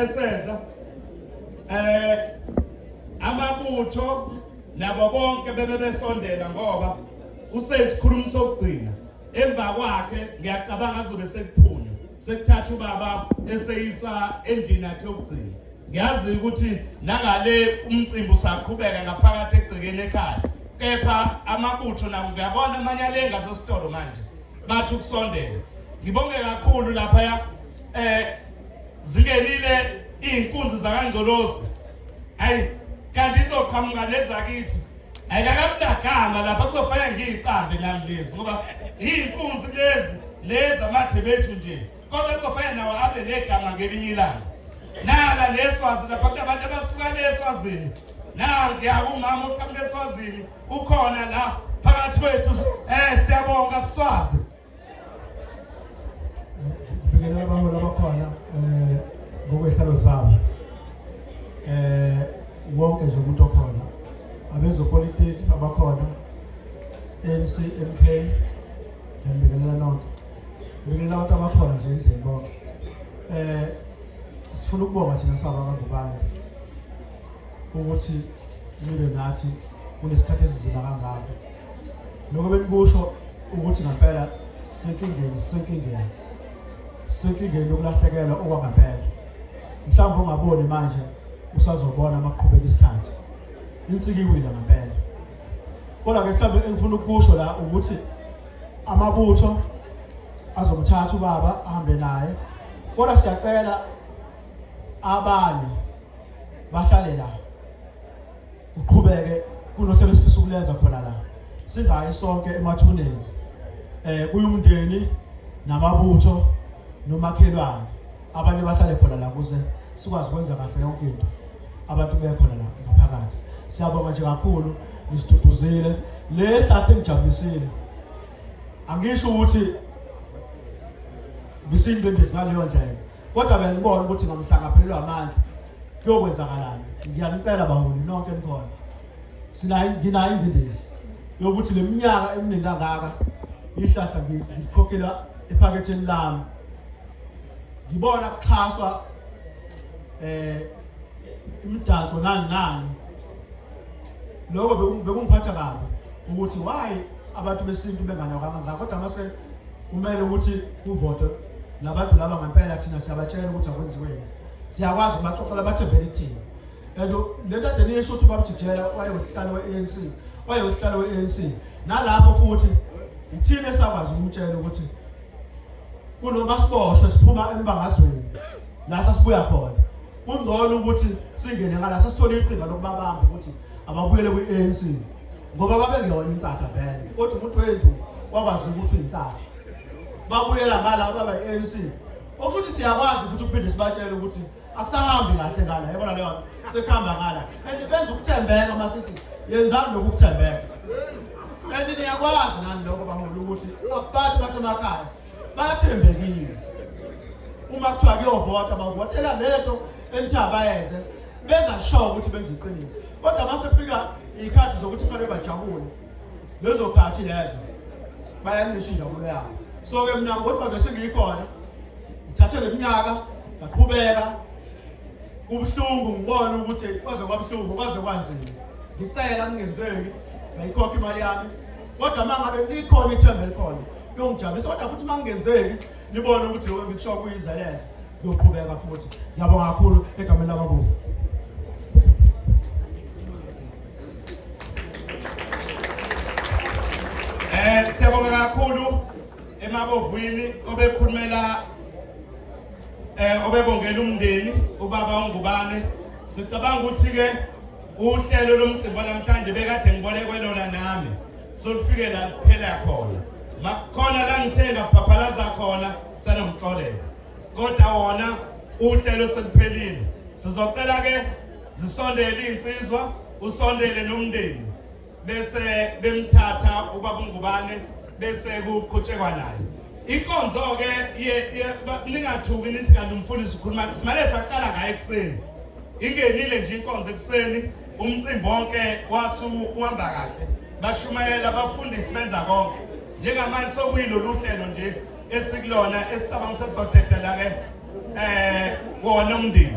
esenza eh amabutho nabo bonke bebe besondela ngoba usesikhulumi sokugcina emva kwakhe ngiyacabanga kuzobe sekuphunywa sekuthatha ubaba eseyisa endlini yakhe yokugcina ngiyazi ukuthi nangale umcimbi usaqhubeka ngaphakathi egcekeni ekhaya kepha amabutho nabo ngiyabona amanye alenga sesitolo manje bathi ukusondela ngibonge kakhulu laphaya eh Zingenile izinkunzi zakangcolosi. Hayi kanti izoqhamuka lezakithi. Ayikakamnagama lapha kuzofanele ngiyiqambe nami lezi ngoba izinkunzi lezi lezi amathe bethu nje. Kodwa kuzofanele nawo abe negama ngelinye ilanga. Nala leswazi lapha kunabantu abasuka leswazini. Nange akumama uqhamuka eswazini ukhona la phakathi kwethu eh siyabonga kuswazi. Ngibingelela abaholi abakhona eh ngokwehlalo zabo. Eh wonke nje umuntu okhona abezopolitiki abakhona ANC MK ngibingelela nonke. Ngibingelela abantu abakhona nje endlini bonke. Eh sifuna ukubonga thina saba abangubani ukuthi nibe nathi kunesikhathi esizima kangaka lokho benikusho ukuthi ngempela sisenkingeni sisenkingeni sisenkingeni yokulahlekelwa okwangempela mhlawumbe ungaboni manje usazobona uma kuqhubeka isikhathi insika iwina ngempela kodwa ke mhlawumbe engifuna ukusho la ukuthi amabutho azomthatha ubaba ahambe naye kodwa siyacela abanye bahlale la uqhubeke kunohlelo esifisa ukulenza khona la singayi sonke emathuneni eh kuyumndeni namabutho nomakhelwane abanye bahlale khona la kuze sikwazi ukwenza kahle yonke into abantu bekhona la ngaphakathi siyabonga nje kakhulu nisiduduzile le hlahla engijabulisile angisho ukuthi bisindwe ndizingaleyo ndlela kodwa bengibona ukuthi ngamhlangaphelelwa amandla kuyokwenzakalani ngiyanicela baholi nonke nikhona sinayo nginayo ingcindezi yokuthi le minyaka eminingi kangaka ihlahla ngikhokhela ephaketheni lami ngibona kuxhaswa eh imidanso nani nani lokho bekungiphatha kabi ukuthi why abantu besintu benganakanga ngakho kodwa mase kumele ukuthi kuvotwe labantu laba ngempela thina siyabatshela ukuthi akwenziweni siyakwazi baxoxela bathembele kuthina and le nto ade niyisho ukuthi ubabjijela wayewusihlalo we-anc wayewusihlalo we-anc nalapho futhi yithina esakwazi ukumtshela ukuthi kunoma siboshwe siphuma embangazweni la sasibuya khona kungcono ukuthi singene ngala sasithole iqhinga lokubabamba ukuthi ababuyele kwi-anc ngoba babengeyona inkatha vele kodwa umuntu wendu wakwazi ukuthi uyintatha babuyela ngala baba i-anc okusho ukuthi siyakwazi ukuthi ukuphinde sibatshele ukuthi akusahambi kahle ngala yabona leyo sekuhamba ngala and benza ukuthembeka uma sithi yenzani lokhu ukuthembeka and niyakwazi nani lokho baholi ukuthi abantu basemakhaya bathembekile uma kuthiwa kuyovota bavotela lento enithi abayenze bengasho ukuthi benza iqiniso kodwa uma sekufika iy'khathi zokuthi kufanele bajabule lezo khathi lezo bayancisha injabulo yabo so-ke mna ngodwa bese ngiyikhona ngithathe le minyaka ngaqhubeka kubuhlungu ngibone ukuthi kwaze kwabuhlungu kwaze kwanzima ngicela kungenzeki ngayikhokha imali yami kodwa uma ngabe likhona ithemba elikhona kuyongijabulisa kodwa futhi uma kungenzeki nibone ukuthi lokho engikusho kuyizeleza kuyoqhubeka futhi ngiyabonga kakhulu egameni lamabovu Eh siyabonga kakhulu emabovwini obekhulumela eh obebongela umndeni ubaba ongubane sicabanga ukuthi ke uhlelo lomcimbi namhlanje bekade ngibone kwelona nami solufike la kuphela khona makukhona la ngithenga kuphaphalaza khona sanomxolela kodwa wona uhlelo seluphelile sizocela ke zisondele iy'nsizwa usondele nomndeni bese bemthatha ubaba ungubane bese kuqhutshekwa naye inkonzo-ke ningathuki nithi kanti umfundisi ukhuluma simane saqala ngayo ekuseni ingenile nje inkonzo ekuseni umcimbi wonke wasuhamba kahle bashumayela abafundisi benza konke njengamanje sokuyilolu hlelo nje esikulona esicabanga sesizothethe la-ke eh wona umndeni